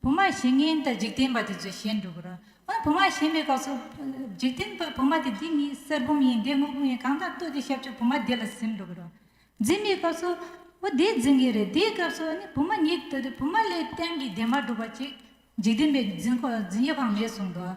བུ་མ་ཞེས་ངའི་ད་འཇིག་རྟེན་པ་དེ་ཚོས་བཞེད་འགྲོ་གི་རེད། འོན་བུ་མ་ཞེས་མེད་སྐབས་སུ། འཇིག་རྟེན་པའི་བུ་མ་དེ་འདི་གཉིས་གསེར་བུམ་ཡིན་འདི་དངུལ་བུམ་ཡིན་གང་དག་ལྟོས་དེ་ཞབས་ཀྱི་བུ་མ་དེ་ལ་གཟིམས་འགྲོ་གི་རེད། འཛིན་མེད་སྐབས་སུ། འོ་དེ་འཛིན་གི་རེད་དེའི་སྐབས་སུ་ནི་བུ་མ་ཉིད་ལྟོས་དེ་བུ་མ་ལས་གཏན་གྱི་དེ་མ་གྲུབ་པ་ཅིག་འཇིག་རྟེན་པའི་འཛིན་ཡོད་ཁང་མེད་གསུངས་འདུག་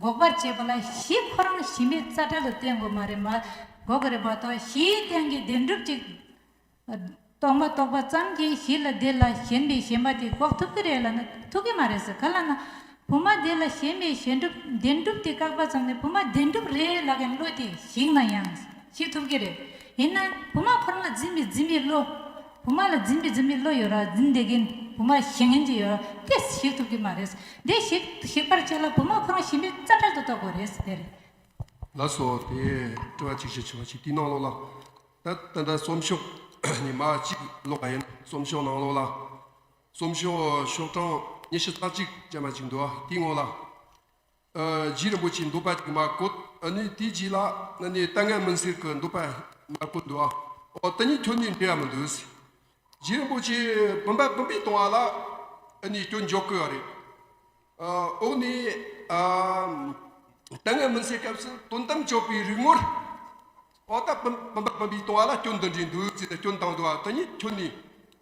འགོག་པར་བྱེད་པ་ལ་གཞི་ཁོ་རང་གཞི་མེད་རྩ་བྲལ་ལ་བརྟེན་དགོས་མ་རེད་མ་འགོག་གི་རེད་པ་དང་གཞིའི་སྟེང་གི་བདེན་གྲུབ་ཅིག་རྟོགས་མ་རྟོགས་པ་ཙམ་གྱིས་གཞི་ལ་དེ་ལ་ཞེན་པའི་ཞེན་པ་དེ་འགོག་ཐུབ་ཀྱི་རེད་ལ་ན་ཐུབ་ཀྱི་མ་རེད་ཟེར་ག་ལ་ན། བུ་མ་དེ་ལ་ཞེན་པའི་ཞེན་གྲུབ་བདེན་གྲུབ་དེ་བཀག་པ་ཙམ་ནས་བུ་མ་བདེན་གྲུབ་རེད་ལགས་ཀྱི་བློ་དེ་ཞིག་ན་ཡང་ཞིག་ཐུབ་ཀྱི་རེད། ཡིན་ན་བུ་མ་ཁོ་རང་ལ་འཛིན་པའི་འཛིན་པའི་བློ། བུ་མ་ལ་འཛིན་པའི་འཛིན་པའི་བློ་ཡོད་ར་འཛིན་དེ་གིན་བུ་མ་ཞེ་ངན་ཅིག་ཡོད་ར་དེ་ཞིག་ཐུབ་ཀྱི་མ་རེད་དེ་ཞིག་ཞིག་པར་བྱེད་ལ་བུ་མོ་གང་ཞིམ་པའི་རྩ་འཕྲལ་དུ་གཏོགས་དགོས་རེད་དེ་རེད། ལ་སོགས་དེ་སྤྲོ་བ་ཅིག་ཅིག་བྱེད་པ་ཞིག་གིས་གནང་ལོག་ལ། ད་ལྟ་ལྟ་རྩོམ་ཤོག་ཉི་མ་གཅིག་ཀློག་པ་ཡིན་རྩོམ་ཤོག་གནང་ལོག་ལ། རྩོམ་ཤོག་ཤོག་གྲངས་ཉེར་བཞི་རྩ་གཅིག་ཅན་པ་ཅིག་འདུག་ཨ་དེའི་སྔོན་ལ། རྗེ་རིན་པོ་ཆེའི་འདུག་པ་དེ་མ་བཀོད་ནས་དེ་རྗེས་ལ་ནི་ལྟ་ངན་མུན་སེལ་གྱི་འདུག་པ་མ་བཀོད་འདུག་ཨོ་དེ་གཉིས་ཐོན་ནས་འབྲེལ་བ་མི་འདུག། རྗེ་རིན་པོ་ཆེ་བུམ་པ་བུམ་པའི་གཏོང་བ་ལ་ནི་སྐྱོན་འཇོག་དགོས་པ་རེད། ཨོ་ནི་ལྟ་ངན་མུན་སེལ་སྐབས་སུ་དོན་དམ་དཔྱོད་པའི་རིག་ངོར་ཨོ་ད་བུམ་པ་བུམ་པའི་གཏོང་བ་ལ་སྐྱོན་འདི་འདྲའི་འདུག་ཟེར་ནས་སྐྱོན་བཏང་འདུག་ཨ་དེ་གཉིས་ཐོན་ནས་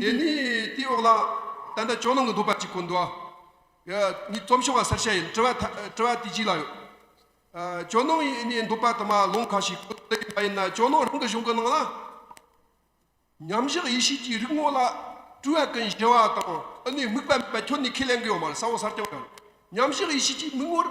དེ་ནས་དེའི་འོག་ལ་ད་ལྟ་ཅོག་ནང་གི་འདོད་པ་གཅིག་གོ་འདོད་ཨ། ནི་རྩོམ་ཤོག་ལ་གསར་བཤད་ཡིན་དྲི་བ་དེ་གཅིག་ལ་ཡོད། ཅོག་ནང་ཡིན་ནའི་འདོད་པ་དུ་མ་ལོངས་ཁ་ཞིག་གོ་འདོད་ཡིན་པ་ཡིན་ན་ཅོག་ནང་རང་གི་གཞུང་གི་ནང་ལ། མཉམ་བཞག་ཡེ་ཤེས་ཀྱི་རིག་ངོ་ལ་སྤྲུལ་བ་ཀུན་གཞི་བ་དང་ཨ་ནུའི་དམིགས་པ་མེད་པ་ཁྱོད་ནས་ཁས་ལེན་གི་ཡོད་མ་རེད་ས་འོག་སར་བསྐྱང་ཡོད། མཉམ་བཞག་ཡེ་ཤེས་ཀྱི་མིག་ངོར།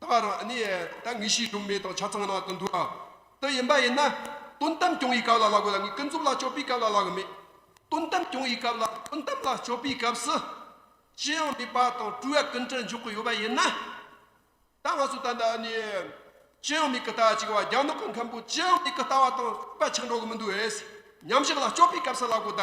ད་བར་ཨ་ནེ་ད་ངི་ཤིས་ལུག་མེ་ཏོག་ཆ་ཚང་ནང་དུ་འདུག་ཨ་ཏི་ཡིན་པ་ཡིན་ན་དོན་གཏམ་སྐྱོང་ཡི་སྐབས་ལ་ལ་གོ་ལ་ངི་ཀུན་རྫོབ་ལ་སྤྱོད་པའི་སྐབས་ལ་ལ་གོ་མེད་དོན་གཏམ་སྐྱོང་ཡི་སྐབས་ལ་དོན་གཏམ་ལ་སྤྱོད་པའི་སྐབས་སུ་ཅི་ཡང་མེད་པ་དང་སྤྲུལ་བ་ཀུན་གྲུ་འཇོག་གི་ཡོད་པ་ཡིན་ན། ད་ང་ཚོ་ད་ལྟ་ཨ་ནེ་ཅི་ཡང་མེད་གི་ལྟ་བ་གཅིག་བ་རྒྱ་ནག་གི་མཁན་པོ་ཅི་ཡང་མེད་གི་ལྟ་བ་དང་རྩིག་པ་ཆག་འགྲོ་གི་མི་འདུག་ཨེ་སི་ཉམས་ཞིབ་ལ་སྤྱོད་པའི་སྐབས་སུ་ལ་གོ་ད།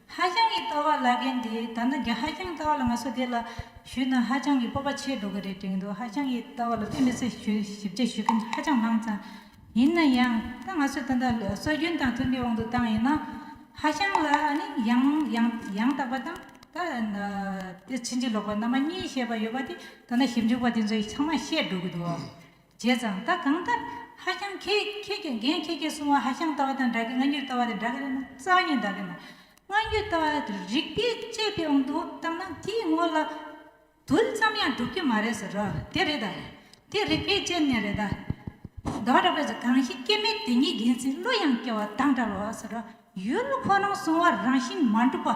ཧ་ཅང་གི་སྟོད་བ་བླ་རྒན་དེ་ད་ནི་རྒྱ་ཧ་ཅང་སྟོད་བ་ལ་ང་ཚོ་དེ་ལ་ཞུས་ན་ཧ་ཅང་གི་སྤོབས་པ་ཆེ་འགྲོ་གི་རེད་དྲན་འདུག་ཧ་ཅང་གི་སྟོད་བ་ལ་ཕན་མི་སྲིད་ཞུ་ཞིབ་ཆ་ཞུས་མཁན་ཧ་ཅང་མང་ཙང་ཡིན་ན་ཡང་ད་ང་ཚོས་དེ་འདྲ་སྲོལ་རྒྱུན་དང་མཐུན་པའི་དབང་དུ་བཏང་ཡིན་ན་ཧ་ཅང་ལ་ནི་ཡང་ཡང་ཡང་དག་པ་དང་ད་དེ་ཕྱིན་ཅི་ལོག་པ་རྣམ་པ་གཉིས་ཞེས་པ་ཡོད་པ་དེ་ད་ནི་ཞིབ་འཇུག་པ་དེ་ཚོས་ཚང་མ་ཤེས་འགྲོ་གི་འདུག་བྱས་ཙང་ད་གང་ལྟར་ཧ་ཀྱང་ཁེ་ཁྱེད་ཀྱི་འགན་ཁྱེད་ཀྱིས་སྲུང་བ་ཧ་ཤང་ལྟ་བ་དང་འདྲ་གི་སྔ་འགྱོད་ལྟ་བ་དེ་འདྲ་གི་རེད་ན་རྩ་བརྙན་འདྲ་གི་མ་སྔ་འགྱོད་ལྟ་བ་དེ་རིག་པས་དཔྱད་པའི་དབང་དུ་བཏང་ན་དེའི་ངོ་ལ་དུལ་ཙམ་ཡང་འགྲུབ་ཀྱི་མ་རེད་ཟེར་རོ་དེ་རེད་ད་དེ་རིག་པས་དཔྱད་ནས་རེད་ད་དོ་རེ་བས་ཟེར་གང་ཞིག་སྐྱེ་མེད་དེ་ཉིད་ཡིན་ཚེ་གླུ་ཡང་སྐྱེ་བ་དང་འདྲ་བ་ཟེར་རོ་ཡུལ་ཁོ་རང་སྲུང་བ་རང་བཞིན་མ་འགྲུབ་པ།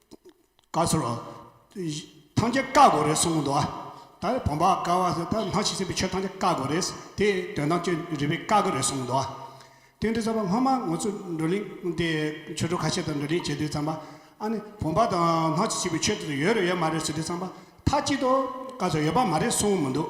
བཀའ་ཟུར། ཐང་ཆེན་བཀའ་དགོས་རེད་གསུངས་འདུག་ཨ། ད་བོང་བ་བཀའ་བ་ཟེར་ད་སྣང་ཞིག་ཟིན་པའི་ཆོས་ཐང་ཆེན་བཀའ་དགོས་རེད། དེ་དོན་དང་བཅས་རིག་པའི་བཀའ་དགོས་རེད་གསུངས་འདུག་ཨ། དེ་འདྲ་བསམ་པ་སྔོན་མ་ངོ་ཚོས་བགྲོ་གླེང་དེ་ཆོས་གྲོགས་ཁ་ཤས་དང་བགྲོ་གླེང་བྱས་དུས་བསམ་པ། ཨ་ནི་བོང་བ་དང་སྣང་ཞིག་ཟིན་པའི་ཆོས་དེ་ཡོད་རེད་ཡོད་མ་རེད་ཟེར་དུས་བསམ་པ་མཐའ་གཅིག་ཏུ་བཀའ་ཟུར་ཡོད་པ་མ་རེད་གསུངས་མི་འདུག།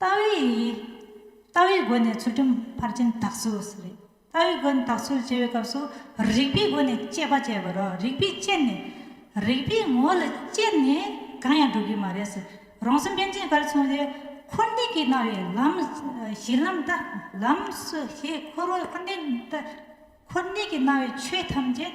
ལྟ་བའི་ཡིག་ཡིག། ལྟ་བའི་སྒོ་ནས་ཚུལ་ཁྲིམས་ཕར་ཕྱིན་དག་ཚུལ་ཟེར། ལྟ་བའི་སྒོ་ནས་དག་ཚུལ་ཅེས་པའི་སྐབས་སུ་རིགས་པའི་སྒོ་ནས་དཔྱད་པ་བྱེད་པར་རོ། རིགས་པས་དཔྱད་ནས། རིགས་པའི་ངོ་ལ་དཔྱད་ནས་གང་ཡང་འགྲུབ་ཀྱི་མ་རེད། རང་སེམས་དཔལ་ཆེན་གར་མཚོན་ཏེ། འཁོར་འདས་ཀྱི་སྣང་བའི་ལམ། གཞི་ལམ་ལྟ་ལམ་སོགས་ཞེས་འཁོར་བ་འཁོར་འདས་ལྟ། འཁོར་འདས་ཀྱི་སྣང་བའི་ཆོས་ཐམས་ཅད།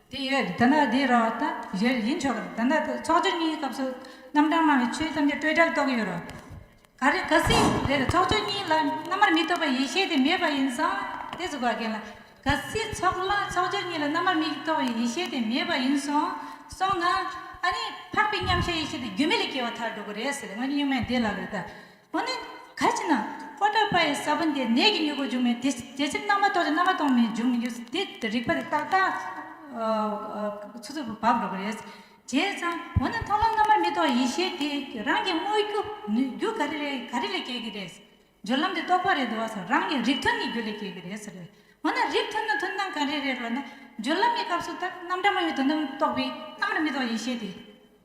དེ་ཡོད་དོ་ན་དེའི་རོ་ད་གཞིར་ཡིན་ཆོག་གི་ད་ནི་ཚོགས་སྦྱོར་གཉིས་སྐབས་སུ་རྣམ་གྲངས་སྨྲ་བའི་ཆོས་ཐམས་ཅད་སྤྲོས་བྲལ་རྟོགས་ཡོད་རོ། ག་རེ་ག་སྲིད་དེ་ལ་ཚོགས་སྦྱོར་གཉིས་ལ་སྔ་མར་མི་རྟོག་པའི་ཡེ་ཤེས་དེ་མེད་པ་ཡིན་སོང་དེ་གཟུགས་བ་རྒན་ལ། ག་སྲིད་ཚོགས་ལ་ཚོགས་སྦྱོར་གཉིས་ལ་སྔ་མར་མི་རྟོག་པའི་ཡེ་ཤེས་དེ་མེད་པ་ཡིན་སོང་སོང་ན། ཨ་ནི་འཕགས་པའི་མཉམ་གཞག་ཡེ་ཤེས་དེ་རྒྱུ་མེད་ལས་སྐྱེ་བ་མཐར་འགྲོ་གི་རེད་ཟེར་ཏེ་སྔོན་གྱི་གཉུག་མའི་འདས་ལ་ལོས་ད། པོ་ནི། གལ་ཆེ་ན། ཧོར་ཟླ་པ་ཡི་ས་བོན་དེ་ནད་ཀྱི་མྱུ་གུ་འབྱུང་བས་དེ་དེ་ཕྱིར་རྣམ་པ་ཐོགས་ཏེ་རྣམ་པ་ཐོགས་མེད་འབྱུང་མི་འགྱུར་དེ་རིག་པ་དེ་ཏག་ཏག་ཚུར་ཚུར་བབས་འགྲོ་བ་རེད། བྱས་ཙང་བོ་ནི་མཐོང་ལམ་རྣམ་པར་མི་རྟོག་ཡེ་ཤེས་དེ་རང་གིས་དངོས་རྒྱུ་ནི་རྒྱུ་ག་རེ་རེད་ག་རེ་ལས་སྐྱེ་གི་རེད། སྦྱོར་ལམ་དེ་རྟོགས་པ་རེད་འདུག་བ་སོགས་རང་གི་རིགས་མཐུན་ནི་རྒྱུ་ལས་སྐྱེ་གི་རེད། འོ་ན་རིགས་མཐུན་ནི་མཐུན་སྣང་ག་རེ་རེད་རོ་ན། སྦྱོར་ལམ་གྱི་སྐབས་སུ་ལྟར་རྣམ་གྲངས་མ་ཡོད་དོ་སྣང་རྟོགས་པས་རྣམ་པར་མི་རྟོག་ཡེ་ཤེས་དེ།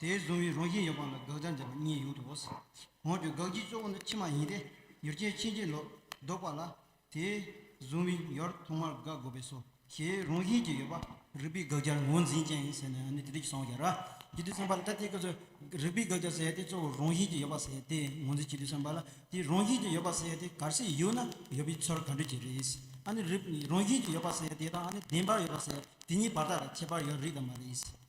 དེའི་བཟུང་བའི་རང་བཞིན་ཡོད་པ་ལ་དགག་བྱ་འཇལ་བ་གཉིས་ཡོད་དོ། འོན་ཀྱང་དགག་བྱའི་གཙོ་བོ་ནི་ཕྱི་མ་ཡིན་ཏེ་ཡུལ་ཅན་ཕྱིན་ཅི་ལོག་ལྡོག་པ་ལ་དེའི་བཟུང་བའི་ཡོར་ཐོག་མར་དགག་དགོས་པས་སོ་ཞེས་རང་བཞིན་གྱིས་ཡོད་པ། རིགས་པའི་དགག་བྱར་ངོས་འཛིན་ཅན་ཟེར་ནས་ནི་དེ་དུས་ཀྱི་སངས་རྒྱས་རཀྵི་ཏུ་སེམས་དཔའ་ལ་ལྟ་སྟེ་སྐབས་སུ་རིགས་པའི་དགག་བྱ་ཟེར་ཏེ་གཙོ་བོ་རང་བཞིན་གྱིས་ཡོད་པ་ཟེར་ཏེ་ངོས་འཛིན་བྱེད་དུས་སེམས་དཔའ་ལ་དེའི་རང་བཞིན་གྱིས་ཡོད་པ་ཟེར་ཏེ་གར་སའི་ཡུལ་ན་ཡོད་པའི་ཚོར་ག་འདོད་ཀྱི་རེས་ཨ་ནི་རིགས་རང་བཞིན་གྱིས་ཡོད་པ་ཟེར་དེ་དང་ཨ་ནི་བདེན་པར་ཡོད་པ་ཟེར་དེ་གཉིས་བར་ཐག་ཁྱད་པར་ཡོད་རིགས་དང་མ་རེད།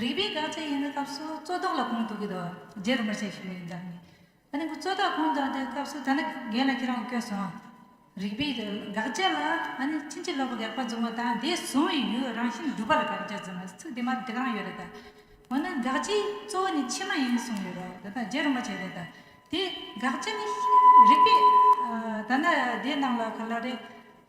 རིག་པའི་དགག་བྱ་ཡིན་པའི་སྐབས་སུ་རྩོད་བཟློག་ལ་གོང་དུ་གི་དོགས་རྗེས་རིམ་པར་བྱས་ཤིང་ཡོད་འདམ། ད་ནི་རྩོད་བཟློག་གོང་དུ་གི་སྐབས་སུ་ད་ནི་འགལ་ལ་ཁྱེད་རང་བསྐྱོད་སོང། རིག་པའི་དགག་བྱ་ལ་ད་ནི་ཕྱིན་ཅི་ལོག་གི་དགག་པ་བཟུང་བ་དང་དེ་བཟུང་བའི་ཡུལ་རང་བཞིན་སྒྲུབ་པ་ལ་དགག་བྱ་བཟུང་བའི་ཚིག་དེ་མར་འགྲིག་རང་ཡོད་རེད་ད། འོ་ན་དགག་བྱའི་གཙོ་བོ་ནི་ཕྱི་མ་ཡིན་གསུངས་ཡོད་རོགས་དེ་དག་རྗེས་རིམ་པར་བྱས་རེད་ད། དེ་དགག་བྱ་ནི་རིག་པའི། ད་ནི་དེ་རྣམས་ལ་ག་ལ་རེ།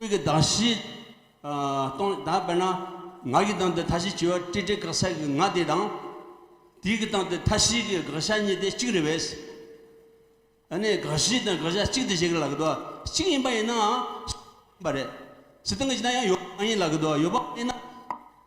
སྐུལ་གྱི་གདངས་བཞི། སྟོང་གི་གདངས་དཔེར་ན། ངག་གི་གདངས་ཏེ་མཐའ་བཞི་བྱེ་བ་ཏྲི་ཏྲི་དགག་བྱ་གི་ངག་དེ་དང། དིའི་གི་གདངས་ཏེ་མཐའ་བཞིའི་གི་དགག་བྱ་གཉིས་ཏེ་གཅིག་རེད་བས། ཨ་ནི་དགག་བཞི་དང་དགག་བྱ་གཅིག་ཏུ་བྱེད་ཀྱི་ལགས་དོ། གཅིག་ཡིན་པ་ཡིན་ནའང། ཡིན་པ་རེད། སི་ཏང་གི་ཅི་ན་ཡང་ཡོད་པ་མ་ཡིན་ལགས་དོ། ཡོད་པ་མ་ཡིན་ན།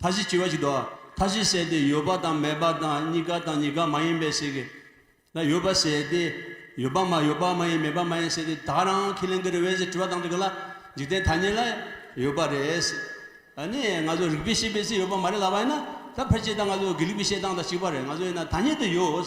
མཐའ་བཞི་སྐྱེ་བ་གཅིག་ཏུའང་མཐའ་བཞི་བྱས་ཏེ་ཡོད་པ་དང་མེད་པ་དང་གཉི་ག་དང་གཉི་ག་མ་ཡིན་པའི་ཞིག་ན་ཡོད་པར་བྱས་ཏེ། ཡོད་པ་མ་ཡོད་པ་མ་ཡིན་མེད་པ་མ་ཡིན་བྱས་ཏེ་ད་རང་ཁས་ལེན་གྱི་རེ་བས་ཞེས་དྲི་བ་དང་དྲི་གི་ལ། འཇིག་རྟེན་ཐ་སྙད་ལ་ཡོད་པ་རེད། ནི་ང་ཚོ་རིག་པའི་ཤེས་པས་ཚེ་ཡོད་པ་མ་རེད་ལབ་པ་ཡིན་ན། ད་ཕལ་ཆེར་ད་ང་ཚོ་དགེ་ལུགས་པའི་བཤད་སྟངས་དང་གཅིག་པ་རེད་ང་ཚོ་ཡིན་ན་ཐ་སྙད་དུ་ཡོད།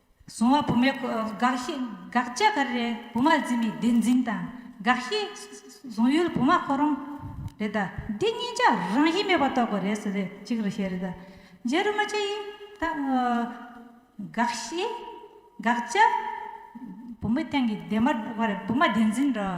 གཟུང་བ་བུ་མོའི་དགག་བཞི་དགག་བྱ་ག་རེ་རེད་བུ་མ་འཛིན་པའི་བདེན་འཛིན་དང་དགག་བཞི། གཟུང་ཡུལ་བུ་མ་ཁོ་རང་རེད་ད། འདི་གཉིས་ཆ་རང་བཞིན་མེད་པ་རྟོགས་དགོས་རེད་ཟེར་རེད་གཅིག་རེད་ཤེས་རེད་ད། རྗེ་རུ་མ་ཆ་ཡིས་ད། དགག་བཞི་དགག་བྱ། བུ་མོའི་སྟེང་གི་བདེན་པ་བུ་མ་བདེན་འཛིན་འདྲ།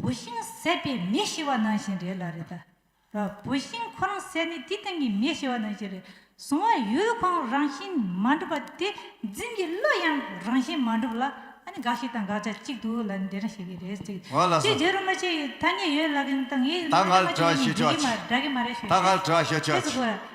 བུད་ཤིང་བསད་པས་མི་ཤི་བ་ནང་བཞིན་རེད་ལ་རེད་ད། བུད་ཤིང་ཁོ་རང་བསད་ནས་དེའི་སྟེང་གི་མི་ཤི་བ་ནང་བཞིན་རེད། གཟུང་བ་ཡུལ་གང་རང་བཞིན་མ་འགྲུབ་པ་དེ་འཛིན་གྱི་བློ་ཡང་རང་བཞིན་མ་འགྲུབ་ལ་ཨ་ནི་དགག་བྱ་དང་དགག་བྱ་གཅིག་ཏུ་ལ་ནི་འདི་རང་བཤད་ཀྱི་རེད་ཟེར་གི། ངོ་ལ་སོ། ཅེས་རྗེ་རུ་མ་ཆེ་ཡིས་ཐ་སྙད་ཡོད་ལབ་ཀྱི་འདུག་ད་ངས་མ་འདྲ་མ་བྱུང་ཡང་འདྲི་གི་མ་འདྲ་གི་མ་རེད་ཞུ། ད་ངལ་བྲོ་བ་ཞུ་ཆོག་ཅིག།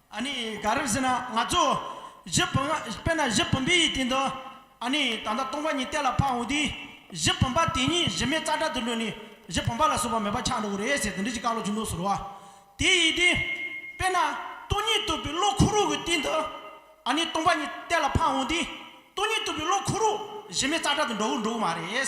ཨ་ནི་ག་རེ་ཟེར་ན་ང་ཚོ་གཞི་བུམ་དཔེར་ན་གཞི་བུམ་པའི་ཡི་གེ་འདི་ཨ་ནི་ད་ལྟ་སྟོང་པ་ཉིད་གཏད་ལ་འཕགས་འོང་དུས་གཞི་བུམ་པ་དེ་ཉིད་གཞི་མེད་རྩ་བྲལ་དུ་ལུས་ནས་གཞི་བུམ་པ་ལ་སོགས་པ་མེད་པ་ཆགས་འགྲོ་གི་རེད་ཟེར་དེ་འདྲི་ཅི་བཀག་ལོ་ཅི་འདོགས་ཟེར་རོ། དེ་ཡིས་ཏེ། དཔེར་ན་སྟོང་ཉིད་རྟོགས་པའི་བློ་ཁོ་རུག་གི་སྟེང་དུ་ཨ་ནི་སྟོང་པ་ཉིད་གཏད་ལ་འཕགས་འོང་དུས་སྟོང་ཉིད་རྟོགས་པའི་བློ་ཁོ་རུག་གཞི་མེད་རྩ་བྲལ་དུ་འགྲོ་གི་འགྲོ་གི་མ་རེད།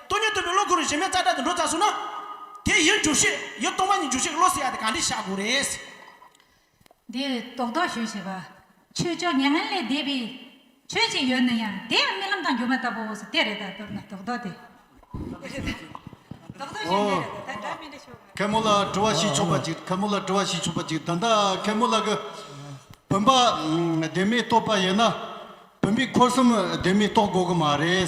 སྟོན་ཉོན་སྟོན་པའི་བློ་ཁོ་རུ་བཞིན་མེད་རྩ་བྲལ་དུ་འགྲོ་ཙམ་བཟུང་ན། དེའི་ཡུལ་འཇུག་ཤེས་ཡུལ་སྟོང་པ་ཉིད་འཇུག་ཤེས་ཀྱི་བློ་བསྲེ་ཡ་དེ་གང་འདྲས་བྱ་དགོས་རེད། འདིར་རྟོག་ལྡོག་ཞུ་བྱེད་པ། ཆོས་ཀྱི་མྱ་ངན་ལས་འདས་པའི་ཆོས་ཅིག་ཡོད་ན་ཡང་དེ་ཡང་རྨི་ལམ་དང་སྒྱུ་མ་ལྟ་བུའོ་ཟེར་དེ་རེད་ད་དོར་ན་རྟོག་ལྡོག་དེ། རྟོག་ལྡོག་ཞུ་འདི་རེད་ད་སྒྲ་མི་འདྲ་ཞུ་བ། མཁན་མོ་ལ་དྲི་བ་ཞིག་ཆོག་པ་ཅིག་མཁན་མོ་ལ་དྲི་བ་ཞིག་ཆོག་པ་ཅིག་ད་ལྟ་མཁན་མོ་ལ་གི། བུམ་པ་བདེན་མེད་རྟོགས་པ་ཡིན་ན། བུམ་པའི་འཁོར་གསུམ་བདེན་མེད་རྟོགས་དགོས་ཀྱི་མ་རེད།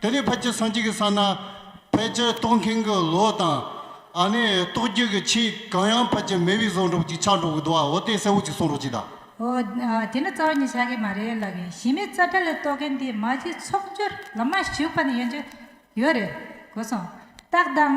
དེ་ནས་ཕལ་ཆེར་སངས་རྒྱས་ཀྱི་ས་ན། ཕལ་ཆེར་རྟོགས་མཁན་གྱི་ལོ་དང། ཨ་ནི་རྟོགས་རྒྱུད་ཀྱི་ཆེས་གང་ཡང་ཕལ་ཆེར་མེད་པའི་བཟོ་འགྲོགས་ཅིག་ཆགས་འགྲོ་གི་འདུག་ཨ་འོ་དེ་གསལ་བོ་ཅིག་གསུང་རོགས་གྱིས་དང། འོ། དེ་ནི་གཙོ་བོ་ཉིད་ཆགས་ཀྱི་མ་རེད་ལགས་གིན། ཞི་མི་རྩ་བྲལ་ལ་རྟོགས་མཁན་དེ་མ་གཅིག་ཚོགས་སྦྱོར་ལ་མ་ཞུགས་པ་ནི་ཡོན་ཅིག་ཡོད་རེད་གོ་སོང། རྟགས་དང།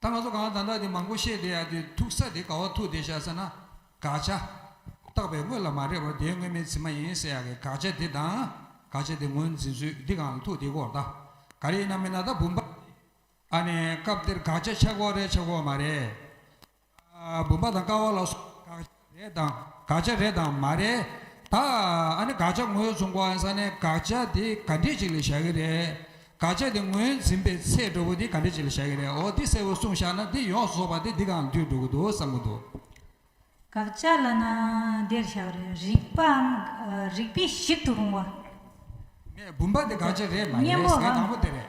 ད་ང་ཚོ་གང་དང་འདྲ་དེ་མང་པོ་བཤད་བསྡད་ཡ་དེ་ཐུག་ས་དེ་ག་བ་ཐུག་བསྡད་བཞག་ཟེར་ན། དགག་བྱ། བཏགས་པའི་དངོས་ལ་མ་རེག་པར་དེའི་དངོས་མེད་ཚིག་མ་ཡིན་ཟེར་ཡ་གི་དགག་བྱ་དེ་དང། དགག་བྱ་དེ་ངོས་འཛིན་ཚུལ་འདི་གང་ལ་ཐུག་དེ་སྐོར་དང། ག་རེ་ཡིན་ན་མིན་ན་ད་བུམ་པ། ཨ་ནི་སྐབས་འདིར་དགག་བྱ་ཆགས་འགོ་རེད་ཆགས་འགོ་མ་རེད། བུམ་པ་དང་ཀ་བ་ལ་སོགས་དགག་བྱ། རེད་དམ། དགག་བྱ་རེད་དམ་མ་རེད། ད་ཨ་ནི་དགག་བྱ་ངོས་བཟུང་གོ་ཨ་ས་ནས་དགག་བྱ་དེ་ག་འདྲས་ཅིག་ལ་བཞག་གི་རེད། དགག་བྱ་དེ་ངོས་འཛིན་པའི་ཚད་གྲོགས་པོ་དེ་ག་འདྲས་ཅིག་ལ་བཞག་གི་རེད་འོ་འདི་གསལ་བོར་གསུངས་བཞག་ན་འདི་ཡོངས་སུ་རྫོགས་པ་དེ་འདི་གང་དུས་འགྲོ་གི་འདུག་བསམ་གི་འདུག། དགག་བྱ་ལ་ན་འདིར་བཞག་རེད་རིགས་པའམ་རིགས་པས་ཞིབ་ཏུ་རུང་བ། ངས་བུམ་པ་དེ་དགག་བྱ་རེད་མ་རེད་ཟེར་མཁན་དང་པོ་དེ་རེད།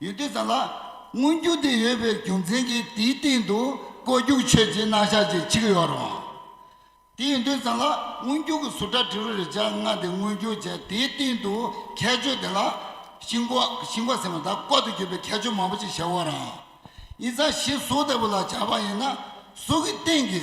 ཡུལ་དེ་ཙམ་ལ་མངོན་རྒྱུ་དེ་ཡོད་པའི་རྒྱུ་མཚན་གྱིས་དེའི་སྟེང་དུ་བཀོད་རྒྱུག་ཆོས་ཀྱི་སྣང་ཤར་གྱི་ཆིག་ཡོད་རུང། དེ་ཡིན་དུས་ཙམ་ལ་མངོན་རྒྱུག་གི་ཟུར་སྒྲ་དྲི་རོ་རེ་སྦྱར་སྔ་དེ་མངོན་རྒྱུག་བྱས་དེའི་སྟེང་དུ་ཁྱད་ཆོས་དེ་ལ་ཤིང་བརྐོ་ཤིང་བརྐོ་ཟེར་བ་དག་བརྐོ་དུ་གྱུར་པའི་ཁྱད་ཆོས་མང་པོ་ཅིག་བྱས་བོ་རང་ཡིན་ཙང་གཞི་གཟུགས་ལྟ་བུ་ལ་བྱ་བ་ཡིན་ན་གཟུགས་ཀྱི་སྟེང་གི།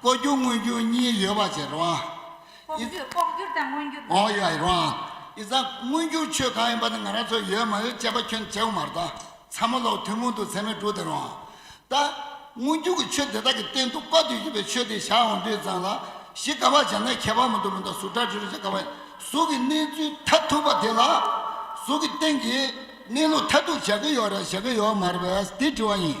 ལྐོག་གྱུར་མངོན་གྱུར་གཉིས་ཡོད་པ་ཆེ་རུང་ཨང། ལྐོག་གྱུར་དང་མངོན་གྱུར་དང། ཡོད་རུང་ཨང། ཨི་ཙང། མངོན་གྱུར་ཆོས་གང་ཡིན་པ་ནི་ང་རང་ཚོས་ཡོད་མ་ཡོད་དཔྱད་པ་ཁྱོད་ཅག་གིས་མ་རྟོགས། ཚ་མོ་ལགས་ཐུན་མོང་དུ་ཚད་མའི་དྲུག་དེ་རུང་ཨང། ད། མངོན་གྱུར་གྱི་ཆོས་དེ་དག་གི་སྟེང་དུ་དཔའ་བརྟུལ་ཞུགས་པའི་ཆོས་དེ་བཞག་འོང་དུས་ཙང་ལ། གཞི་ག་པར་བྱས་ན་ཁྱད་པར་མི་འདུག་མི་འདུག་གཟུགས་སྒྲ་དྲི་རོ་ཆ་ག་པ། གཟུགས་ཀྱི་གནས་ཚུལ་མཐའ་ཐུག་པ་དེ་ལ། གཟུགས་ཀྱི་སྟེང་གི། གནས་ལུགས་མཐའ་ཐུག་བཞག་གི་ཡོད་རེད་བཞག་གི་ཡོད་མ་རེད་པས་དེ་དྲི་བ་ཡིན།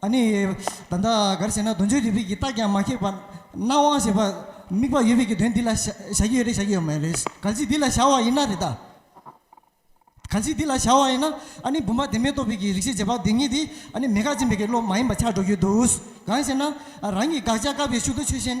ཨ་ནི། ད་ལྟ་ག་རེ་བྱས་ན་གདོན་ཆོས་ཡོད་པས་ཀྱི་རྟགས་ཀྱང་མ་ཁེགས་པར་སྣང་བ་ཞེས་པ་དམིགས་པ་ཡོད་པས་ཀྱི་དོན་འདི་ལ་བྱ་གི་ཡོད་རེད་བྱ་གི་ཡོད་མ་རེད། གལ་སྲིད་འདི་ལ་བྱ་བ་ཡིན་ན་རེད། གལ་སྲིད་འདི་ལ་བྱ་བ་ཡིན་ན་ཨ་ནི་བུམ་པ་བདེན་མེད་རྟོགས་པའི་ཀྱི་རིག་བྱེད་འབྱེད་པ་དེ་ཉིད་དེ་ཨ་ནི་མེད་དགག་ཅན་པའི་ཀྱི་བློ་མ་ཡིན་པ་ཆགས་འགྲོ་གི་འདུག་གང་ཞེ་ན། རང་གི་དགག་བྱ་བཀག་པའི་ཤུགས་ཏུ་ཆོས་ཅན།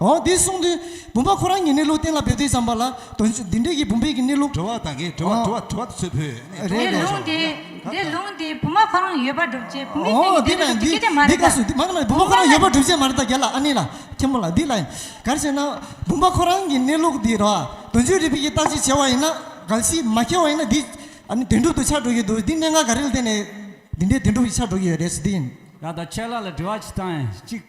འོ་དེ་གསུངས་དུས་བུམ་པ་ཁོ་རང་ཉིད་གནས་ལུགས་གཏན་ལ་འབེབས་དུས་ཙམ་པ་ལ་དོན་འདི་འབྲེལ་གྱི་བུམ་པའི་གནས་ལུགས། དྲི་བ་དང་གི་དྲི་བ་དྲི་བ་དྲི་བ་ཚོད་ཕུད་ནས་དྲི་བ་རེད་རེད། དེ་ལུང་དེ་དེ་ལུང་དེ་བུམ་པ་ཁོ་རང་ཡོད་པ་སྒྲུབ་བྱེད་བུམ་པའི་སྟེང་གི་འདི་ལྟ་བུ་སྒྲུབ་བྱེད་སྐད་ཆ་མ་རེད་ད། བུམ་པ་ཁོ་རང་ཡོད་པ་སྒྲུབ་བྱེད་མ་རེད་ད་རྒྱ་ལ་ཨ་ནེ་ལ་ཁྱེད་མོ་ལ་འདི་ལ་ཡིན། གར་བྱེད་ན་བུམ་པ་ཁོ་རང་གི་གནས་ལུགས་འདི་རོ། དོན་ཆོས་རིག་པའི་ཀྱི་རྟགས་ཅིག་བྱས་བ་ཡིན་ན་གལ་སྲིད་མ་ཁེལ་བ་ཡིན་ན་འདི་ཨ་ནི་དོན་གྲུབ་ཏུ་ཆགས་འགྲོ་གི་འདུག་འདི་གནད་འགག་ག་རེ་ལ་བརྟེན་ནས་འདི་འདྲའི་དོན་གྲུབ་ཀྱི་ཆགས་འགྲོ་གི་ཡོད་རེད་ཟེར་འདི་ཡིན། ད་ལྟ་ཁྱེད་ལ་ལ་དྲི་བ་གཅིག་དང་གཅིག།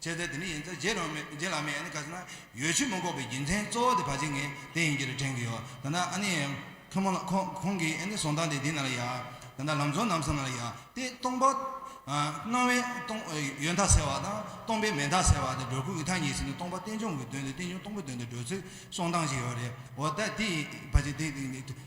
བྱས་ཚེ་དེ་ནི་ཡིན་ཚད་རྗེས་ལུང་མེད་རྗེས་ལ་མེད་ཡིན་ནི་གལ་སྲིད་ན་ཡོད་ཕྱིར་མི་འགོག་པའི་རྒྱུ་མཚན་གཙོ་བོ་དེ་བ་ཅིག་ངས་དེ་ཡིན་གྱི་རེད་དྲན་གྱི་ཡོད། ད་ནི་ཨ་ནི། ཁོ་མོ་ལ་ཁོང་ཁོང་གིས་ཨ་ནི་ཟོང་རྟགས་འདི་འདི་ན་ལ་ཡ། ད་ནི་ལམ་ཚོ་ནམ་ས་ན་ལ་ཡ། དེ་སྟོང་པ། སྣང་བའི་སྟོང། ཡོད་མཐའ་ཟེར་བ་དང་སྟོང་པའི་མེད་མཐའ་ཟེར་བ་དེ་སྒྲོ་གུ་ཡི་ཐ་སྙད་ཟིན་ནས་སྟོང་པ་རྟེན་འབྱུང་གི་དོན་དེ་རྟེན་འབྱུང་སྟོང་པའི་དོན་དེ་བགྲོད་ཚུལ་གསུང་སྟངས་ཞིག་ཡོད་རེད་འོ་ད་དེ་ཡིན་བ་ཅིག་དེ།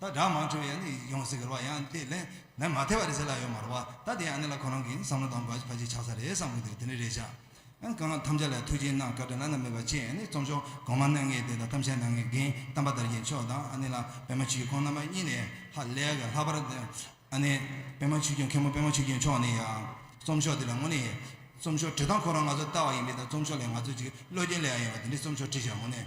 ད་སྒྲ་མང་བྱུང་ཡང་ནི་ཡོང་སྲིད་ཁུར་བ་ཡང་དེ་ལས་ལན་མ་ཐེ་བ་རེད་ཟེར་ལ་ཡོད་མ་རུ་བ་ད་དེ་ཡང་ནི་ལ་ཁོ་རང་གིས་བསམ་བློ་དང་བར་ཆད་ཆགས་ས་རེད་བསམ་གི་འདུག་དེ་ནི་རེད་བཞག་ཨང་གང་ཐམས་ཅད་ལ་ཐུགས་རྗེའི་གནང་བཀའ་དྲིན་བླ་ན་མེད་པ་ཆེ་ཡང་ནི་རྩོམ་ཤོག་གོང་མ་གནང་མཁན་དེ་དང་གཏམ་བཤད་གནང་མཁན་རྒན་གཏམ་པ་དར་རྒྱས་མཆོག་དང་ཨ་ནི་ལ་པད་མ་ཆོས་ཁོང་རྣམ་པ་གཉིས་ནས་ཧ་ལས་ག་ལྷག་པར་དེ་ཨ་ནི་པད་མ་ཆོས་སྐྱོང་མཁན་པོ་པད་མ་ཆོས་སྐྱོང་མཆོག་ནི་ཡང་རྩོམ་ཤོག་དེ་ལ་དངོས་ནས་རྩོམ་ཤོག་བྲི་སྟངས་ཁོ་རང་ང་ཚོ་ལྟ་བ་ཡིན་པས་ད་རྩོམ་ཤོག་ལས་ང་ཚོ་ཅིག་བློ་རྒྱ་ལས་ཡང་ཡིན་པ་དེ་འདྲའི་རྩོམ་ཤོག་བྲིས་བཞག་དངོས་ནས